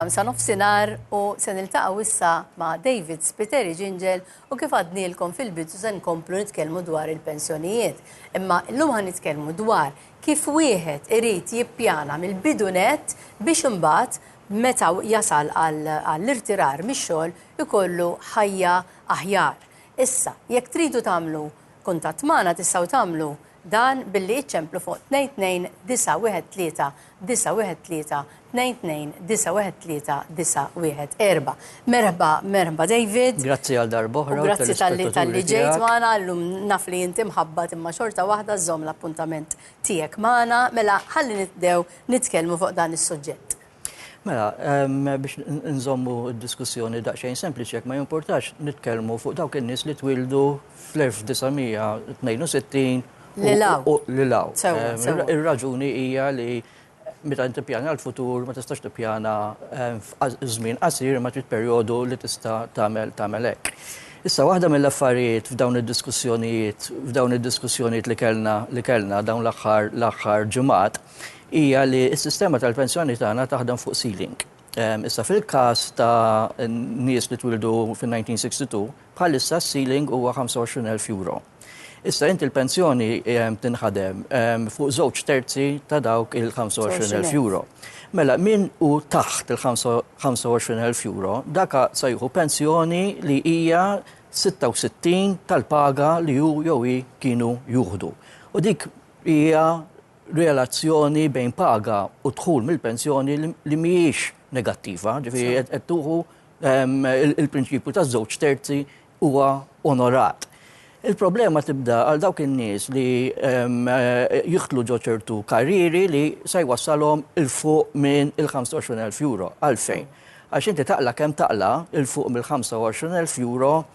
Sa nofsinhar u se niltaqgħu issa ma' David Spiteri Ġinġel u kif għadnielkom fil-bidu se nkomplu nitkellmu dwar il-pensjonijiet. Imma llum ħa nitkellmu dwar kif wieħed irid jippjana mill-bidu nett biex imbagħad meta jasal għall-irtirar mix-xogħol ikollu ħajja aħjar. Issa, jekk tridu tagħmlu kuntatt magħna tistgħu tagħmlu Dan billi iċċemplu fuq 22913921392139114. Merħba, merħba David. Grazzi għal darba oħra. U grazzi talli talli ġejt magħna llum naf li inti mħabbat imma xorta waħda żomm l-appuntament tiegħek magħna. Mela ħalli nibdew nitkellmu fuq dan is-suġġett. Mela, biex nżommu d-diskussjoni daqsxejn sempliċi jekk ma jimpurtax nitkellmu fuq dawk in-nies li twildu fl-1962 Lilaw. Lilaw. Ir-raġuni hija li meta tippjana l-futur ma tistax tippjana żmien qasir ma trid perjodu li tista' tagħmel tagħmel hekk. Issa waħda mill-affarijiet f'dawn id-diskussjonijiet f'dawn id-diskussjonijiet li kellna li kellna dawn l-aħħar l-aħħar ġimgħat hija li s-sistema tal-pensjoni tagħna taħdem fuq ceiling. Issa fil-każ ta' nies li twildu fin-1962, bħalissa s-ceiling huwa €25,000. Issa inti l-pensjoni tinħadem fuq żewġ terzi ta' dawk il-€25,000. Mela min hu taħt il-€25,000 dak se jieħu pensjoni li hija 66 tal-paga li hu jew hi kienu jieħdu. U dik hija relazzjoni bejn paga u dħul mill-pensjoni li mhijiex negattiva, ġifieri qed qed tuħu ehm, il- il-prinċipju ta' żewġ terzi huwa onorat. Il-problema tibda għal dawk in-nies li ehm, eh, jidħlu ġo ċertu karrieri li se jwassalhom il fuq minn il-25,000 euro. Għalfejn? Għax inti taqla kemm taqla il fuq mill-25,000 euro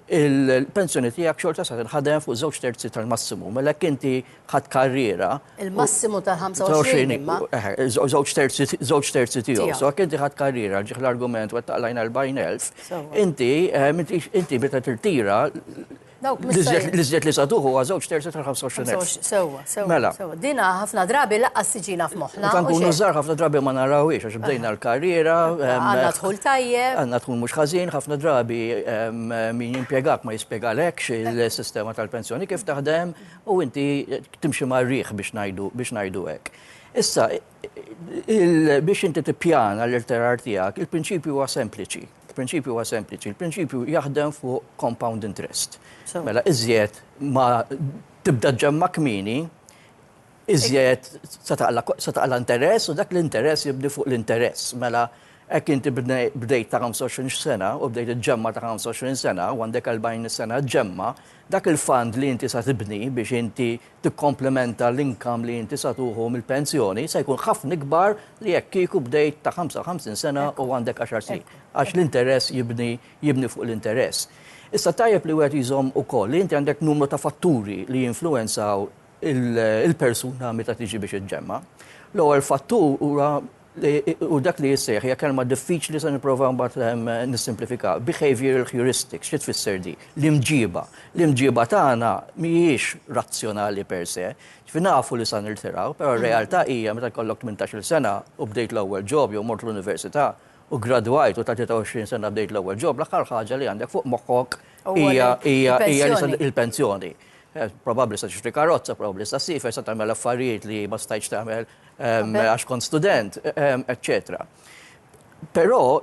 il-pensjoni tiegħek xorta sa tinħadem fuq żewġ terzi tal-massimu. Mela jekk inti ħadd karriera. Il-massimu tal-25 imma. Żewġ terzi, żewġ terzi tiegħu. So jekk inti ħadd karriera ġieħ l-argument wettaq lajn 40,000, inti inti meta tirtira l-iżjed li sa tuħu huwa żewġ terzi tal-25,000. Sewwa. Sewa, Mela. sewa. Dina ħafna drabi laqqas tiġina f'moħħna. Kan u kunu xejn. żgħar ħafna drabi ma narawhiex għax bdejna l-karriera. em, Għandna dħul tajjeb. Għanna tkun mhux ħażin, ħafna drabi em, min jimpjegak ma jispjegalekx il-sistema tal-pensjoni kif taħdem u inti timxi mar-riħ biex ngħidu biex ngħidu hekk. Issa, il- biex inti tippjana l-irtirar tiegħek, il-prinċipju huwa sempliċi. Il-prinċipju huwa sempliċi. Il-prinċipju jaħdem fuq compound interest. Sew. Mela, iżjed ma Tibda ġġemma' kmieni, iżjed se taqla' interess u dak l-interess jibni fuq l-interess. Mela hekk inti bdejt ta' 25 sena u bdejt iġġemma' ta' 25 sena u għandek 40 sena ġġemma', dak il-fund li inti se tibni biex inti tikkomplementa l-income li inti se tuħu mill-pensjoni se jkun ħafna ikbar li jekk kieku bdejt ta' 55 sena u għandek għaxar snin. Għax l-interess jibni jibni fuq l-interess. Issa tajjeb li wieħed jżomm ukoll li inti għandek numru ta' fatturi li jinfluwenzaw il-persuna meta tiġi biex iġġemma'. L-ewwel fattur huwa u dak li jissejjaħ hija kelma diffiċli se nipprova mbagħad nissimplifika, behavioral heuristics, xi tfisser di? L-imġiba. L-imġiba tagħna mhijiex razzjonali per se. Ġifieri nafu li sa nirtiraw, però r-realtà hija meta jkollok tmintax-il sena u bdejt l-ewwel job jew mort l-università, u ggradwajt u ta' 23 sena bdejt l-ewwel ġob, l-aħħar ħaġa li għandek fuq moħħok hija l-pensjoni. Probabbli se tixtri karozza, probabbli se ssiefer, se tagħmel affarijiet li ma stajtx tagħmel għax kont student, eċċetera. Però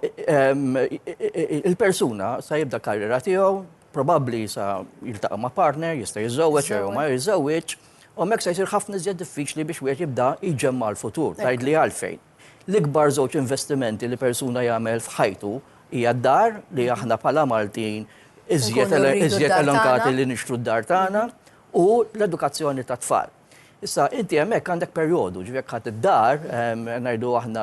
il-persuna se jibda l-karriera tiegħu, probabbli se jiltaqa' ma' partner, jista' jiżżewweġ jew ma jiżżewweġx, u hemmhekk se jsir ħafna iżjed diffiċli biex wieħed jibda jġemma' l-futur. Tgħidli għalfejn? L-ikbar żewġ investimenti li persuna jagħmel f'ħajtu hija d-dar, li aħna bħala Maltin iżjed iżjed elenkati li nixtru d-dar tagħna, u l-edukazzjoni tat-tfal. Issa, inti hemmhekk għandek perjodu, ġifieri jekk ħadt id-dar, ngħidu aħna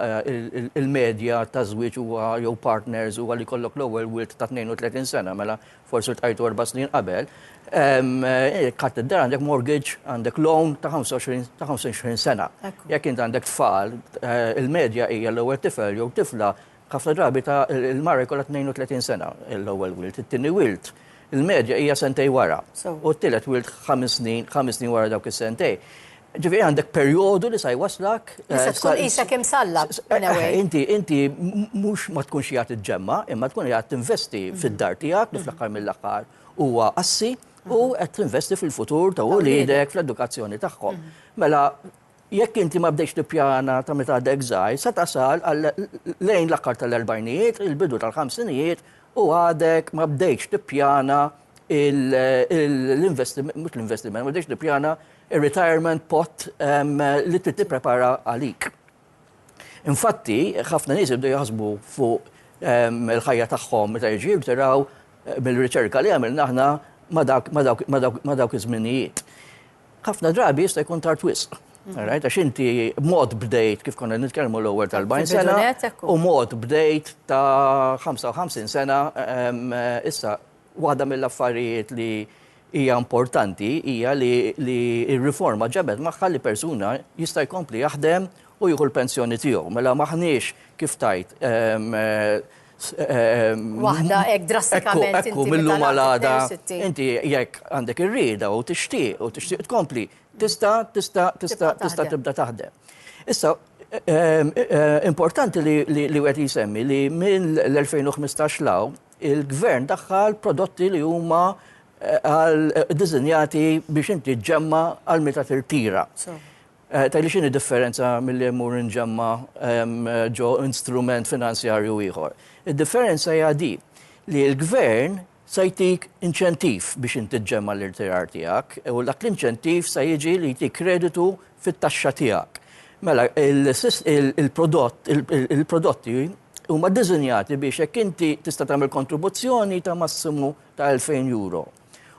il-medja taż-żwieġ huwa jew partners huwa li jkollok l-ewwel wild ta' 32 sena, mela forsi rtqajtu erba' snin qabel, katt id-dar għandek mortgage, għandek loan ta' 25 sena. Jekk int għandek tfal, il-medja hija l-ewwel tifel jew tifla ħafna drabi ta' il-mara jkollha 32 sena l-ewwel wild, it-tieni wild, il-medja hija sentejn wara. U t-tielet wild ħames snin, ħames snin wara dawk is-sentejn. Ġifieri għandek perjodu li sa jwasslak. Li se tkun qisek imsallab. Inti inti mhux ma tkunx qiegħed iġġemma, imma tkun qiegħed tinvesti fid-dar tiegħek li fl-aħħar mill-aħħar huwa assi u qed tinvesti fil-futur ta' uliedek, fl-edukazzjoni tagħhom. Mela jekk inti ma bdejtx tippjana ta' meta għadek żgħir, se tasal lejn l-aħħar tal-erbgħinijiet, il-bidu tal-ħamsinijiet u għadek ma bdejtx tippjana l-investiment, mhux l-investiment, ma tridx tippjana ir-retirement pot li trid tipprepara għalik. Infatti, ħafna nies jibdu jaħsbu fuq il-ħajja tagħhom meta jiġu jirtiraw mill-riċerka li għamilna aħna ma dawk iż-żminijiet. Ħafna drabi jista' jkun tard wisq. Għax inti mod bdejt kif konna nitkellmu l-ewwel tal-40 sena u mod bdejt ta' 55 sena issa Waħda mill-affarijiet li hija importanti hija li li r-riforma ġabet magħha li persuna jista' jkompli jaħdem u jieħu l-pensjoni tiegħu. Mela m'aħniex kif tgħid ehm, ehm, Waħda hekk drastikament Ekku, ekku, millum għal għada. Inti jekk għandek ir-rieda u tixtieq u tixtieq tkompli, tista' tista' tista' tista' tibda taħdem. Issa, Ehm, eh, eh, importanti li wieħed jisemmi li minn l-2015 law Il-Gvern daħħal prodotti li huma diżinjati biex inti ġemma għal meta tirtira. Tajli xini differenza mill-li jemur nġemma ġo instrument finanzjarju ieħor. Il-differenza hija di li l-gvern sa jtik inċentiv biex inti ġemma l-irtirar tijak u dak l-inċentiv sa jiġi li jtik kreditu fit-taxxa tijak. Mela, il-prodott, il-prodotti huma ddisinjati biex jekk inti tista' tagħmel kontribuzzjoni ta' massimu ta' 2,000 euro.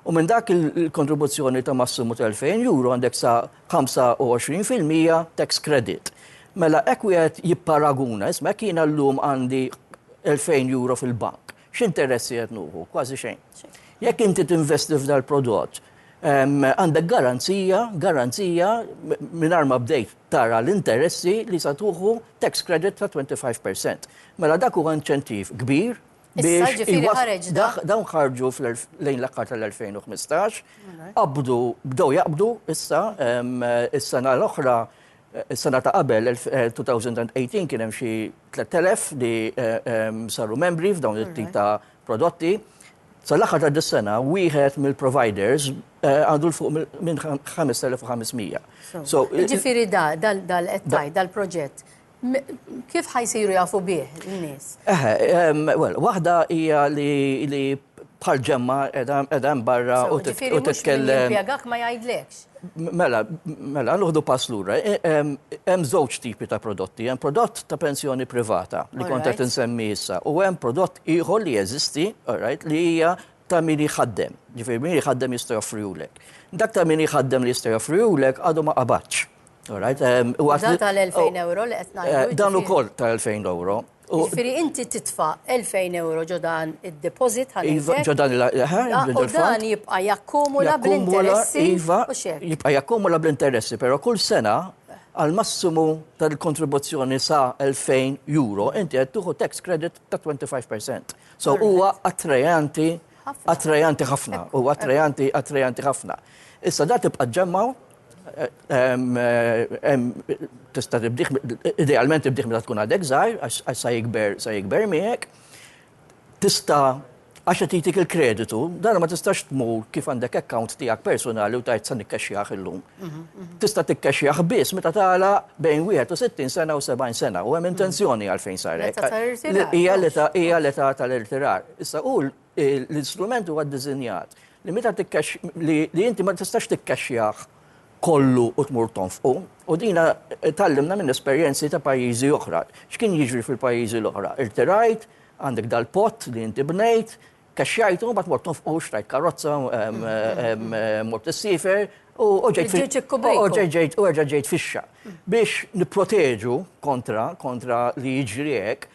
U minn dak il-kontribuzzjoni ta' massimu ta' 2,000 euro għandek sa 25 fil-mija tax credit. Mela hekk wieħed jipparaguna, isma' jekk jiena llum għandi 2,000 euro fil-bank, x'interessi qed nuħu? Kważi xejn. Jekk inti tinvesti f'dal-prodott, għandek garanzija, garanzija mingħajr ma bdejt tara l-interessi li sa tuħu tax credit ta' 25 per cent. Mela dak huwa inċentiv kbir biex dawn ħarġu lejn l-aħħar tal-2015, qabdu, bdew jaqbdu issa, is-sena l-oħra, is-sena ta' qabel 2018 kien hemm xi 3,000 li saru membri f'dawn it-tip ta' prodotti. Sal-aħħar ta' dis-sena, wieħed mill-providers Eh, għandu l-fuq minn 5500. Ġifiri da, dal-ettaj, dal-proġett, kif ħajsiru jafu bih n-nis? Well, wahda hija li bħal ġemma edha barra u titkellem. Pjagak ma jgħidlekx. Mela, mela, nuħdu pass lura. E, hemm żewġ tipi ta' prodotti. Hemm prodott ta' pensjoni privata li konta tinsemmi issa u hemm prodott ieħor li jeżisti, li hija ta' min jħaddem, ġifieri min jħaddem jista' joffrihulek. Dak ta' min jħaddem li jista' joffrihulek għadu ma qabadx. Dan tal-2000 euro li qed ngħidu. Dan ukoll tal-2000 euro. Ġifieri inti titfa' 2000 euro ġo dan id-deposit ħalli. Iva, ġo dan il-ħalli. U dan jibqa' jakkumula bl-interessi. Iva, jibqa' jakkumula bl-interessi, però kull sena għal massimu tal-kontribuzzjoni sa' 2000 euro inti qed tieħu tax credit ta' 25%. So huwa attrajanti, attrajanti ħafna, huwa attrajanti, attrajanti ħafna. Issa da tibqa' ġemmaw, tista' tibdih, idealment tibdih meta tkun għadek żgħir, għax sa jikber, sa jikber miegħek. Tista' għax qed jtik il-kreditu, dan ma tistax tmur kif għandek account tiegħek personali u tajt sa nikkexxjah illum. tista' tikkexxjah biss meta tagħla bejn 61 sena u 70 sena u hemm intenzjoni għalfejn sar hekk. Hija l-età hija l-età tal-irtirar. Issa hu l-istrument huwa ddisinjat li meta tikkex li inti ma tistax tikkexxjah kollu u tmur tonfqu u dina tallimna minn esperjenzi ta' pajjiżi oħra. X'kien jiġri fil-pajjiżi l-oħra? Irtirajt, għandek dal-pott li inti bnejt, Kexxajtu, mbagħad mort nofqu, xtrajt karozza, mort is-sifer, u ġejt ġejt u erġa' ġejt fixxa. Biex nipproteġu kontra kontra li jiġri hekk,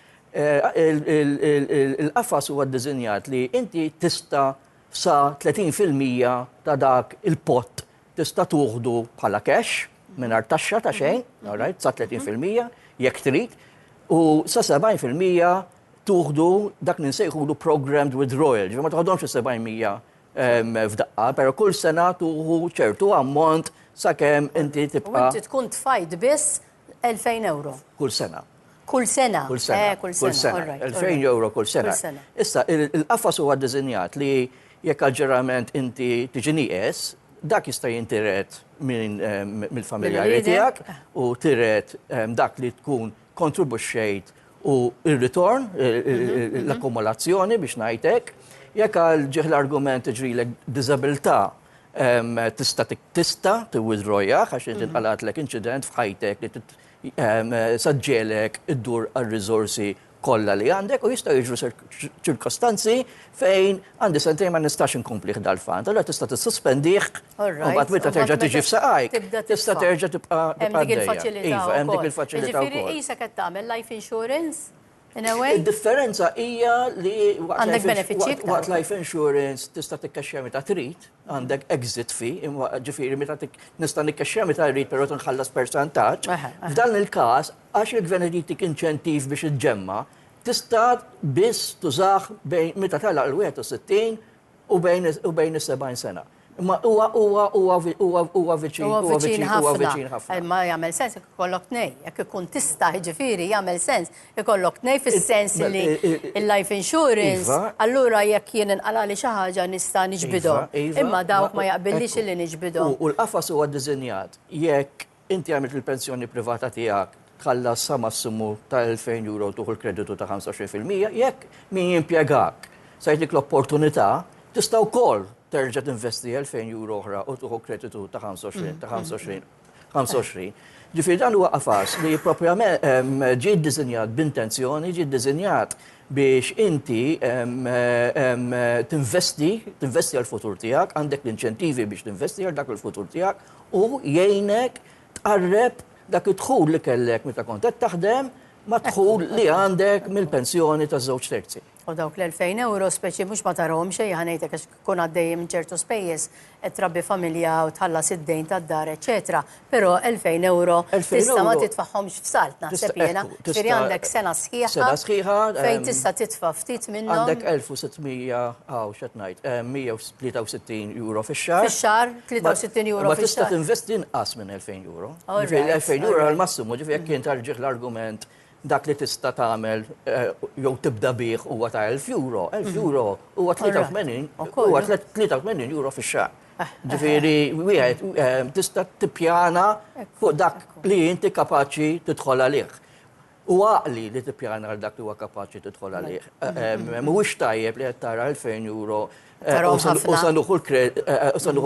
il-qafas huwa ddisinjat li inti tista' sa 30% ta' dak il-pott tista' tuħdu bħala cash mingħajr taxxa ta' xejn, sa 30% jekk trid, u sa 70% tuħdu dak li nsejħulu programmed withdrawal, ġifieri ma toħodhomx is-700 f'daqqa, però kull sena tuħu ċertu ammont sakemm inti tibqa'. Inti tkun tfajt biss 2000 euro. Kull sena. Kull sena. Kull sena. Eh, kull sena. 2000 euro kull sena. Issa, il-qafas huwa ddisinjat li jekk għalġerament inti tiġi nieqes, dak jista' jintiret mill-familjari tiegħek u tiret dak li tkun kontribuxxejt u r-ritorn, l-akkumulazzjoni biex ngħid hekk, jekk għal ġieħ l-argument iġrilek diżabilità tista' tista' tiwithdrawjah għax inti tqalgħatlek inċident f'ħajtek li saġġelek iddur għar-riżorsi kollha li għandek u jistgħu jiġru ċirkostanzi Fejn għandi sentejn ma nistax inkomplih dal-fant, allura tista' tissuspendih u mbagħad meta terġa' tiġi f'saqajk, tista' terġa' tibqa' għaddejja. Iva, hemm dik il-faċilità wkoll. Jiġifieri qisek qed tagħmel life insurance in a way? Id-differenza hija li waqt life insurance tista' tikkexxja meta trid, għandek exit fee, jiġifieri meta nista' nikkexxja meta rrid però tinħallas percentaġġ. F'dan il-każ, għax il-Gvern irid jagħtik inċentiv biex iġġemma', Tista' biss tużah bejn meta tagħlaq il-61 u bejn u bejn is-70 sena. Imma huwa huwa huwa vi- huwa huwa viċin Huwa huwa viċin viċin huwa viċin ħafna. ħafna. Ma jagħmel sens jekk ikollok tnej. Jekk ikun tista' jiġifieri jagħmel sens ikollok tnej fis-sens It- li i- i- i- il-life insurance Iva. allura jekk jien inqalali xi ħaġa nista' niġbidhom. Iva, iva, Imma dawk ma jaqbillix ekku. illi niġbidhom. U- U l-qafas huwa ddisinjat jekk Inti għamilt li l-pensjoni privata tiegħek tħallas sa massimu ta' 2,000 euro tieħu l-kreditu ta' 25 fil-mija, jekk min jimpjegak se jagħtik l-opportunità, tista' wkoll terġa' tinvesti 2,000 euro oħra u tieħu kreditu ta' 25 ta' 25 25. Ġifieri dan huwa qafas li proprjament ehm, ġie ddisinjat b'intenzjoni, ġie ddisinjat biex inti ehm, ehm, tinvesti, tinvesti għall-futur tiegħek, għandek l-inċentivi biex tinvesti għal dak il-futur tiegħek u jgħinek tqarreb dak id-dħul li kellek meta kont qed taħdem mad-dħul li għandek mill-pensjoni ta' żewġ terzi. U dawk l-2000 euro speċi mhux ma tarahomx xejn ħa ngħidlek għax tkun għaddej minn ċertu spejjeż qed trabbi familja u tħallas id-dejn tad-dar eċċetera, però 2000 euro tista' ma titfagħhomx f'salt naħseb jiena, ġifieri għandek sena sħiħa fejn tista' titfa' ftit minnhom. Għandek 1600 hawn x'qed ngħid, 63 euro fix-xahar. Fix-xahar, 63 euro fix-xahar. Ma tista' tinvesti inqas minn 2000 euro. Ġifieri 2000 euro l-massimu, ġifieri jekk kien tarġih l-argument dak li tista' tagħmel eh, jew tibda bih huwa ta' 1000 euro, 1000 mhm. euro huwa 83 huwa 83 euro fix-xahar. Eh, eh, Ġifieri wieħed tista' tippjana fuq dak li inti kapaċi tidħol għalih. Hu għaqli li tippjana għal dak li huwa kapaċi tidħol għalih. Mhuwiex tajjeb li qed tara 2,000 euro u se nieħu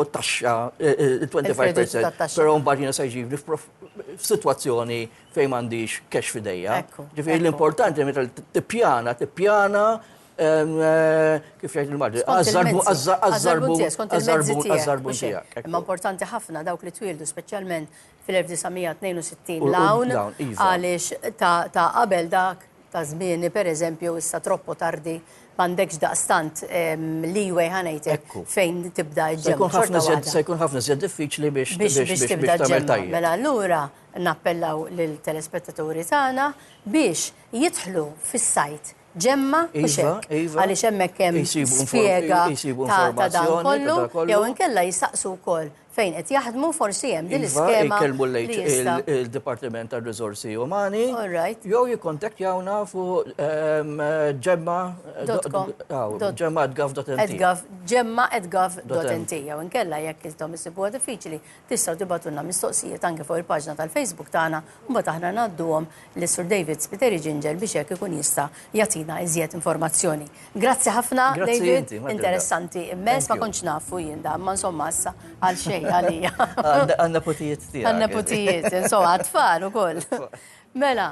t-taxxa 25%, però mbagħad jiena se jġibni f'sitwazzjoni fejn m'għandix cash f'idejja. Ġifieri l-importanti meta tippjana, tippjana kif jgħid il-Malti, għaż-żarbun tiegħek. Imma importanti ħafna dawk li twieldu speċjalment fil-1962 l-hawn iva. għaliex ta' qabel dak ta' żmieni pereżempju issa troppo tardi m'għandekx daqstant leeway ħanejtek fejn tibda ġġemma. Se jkun ħafna żjed diffiċli biex biex tibda ġġemma. Mela allura nappellaw lil telespettaturi tagħna biex jidħlu fis-sajt ġemma u iva, xek. Iva. Għaliex hemmhekk hemm spjega ta' dan kollu jew inkella jistaqsu wkoll fejn qed jaħdmu forsi hemm din iva, l-iskema. Jkellmu il-Dipartiment tar riżorsi Umani. Jew jikkontaktjawna fuq ehm, ġemma ġemma Ġemma gov.nt jew inkella jekk intom isibuha diffiċli tistgħu tibatulna mistoqsijiet anke fuq il-paġna tal-Facebook tagħna mbagħad aħna ngħadduhom lis Sur David Spiteri Ginger biex hekk ikun jista' jagħtina iżjed informazzjoni. Grazzi ħafna, David. Interessanti immens, ma kontx nafu jien dan, ma insomma issa għal xejn għalija. Għan-neputijiet tiegħek. Għan-neputijiet, insomma, għat-tfal ukoll. Mela.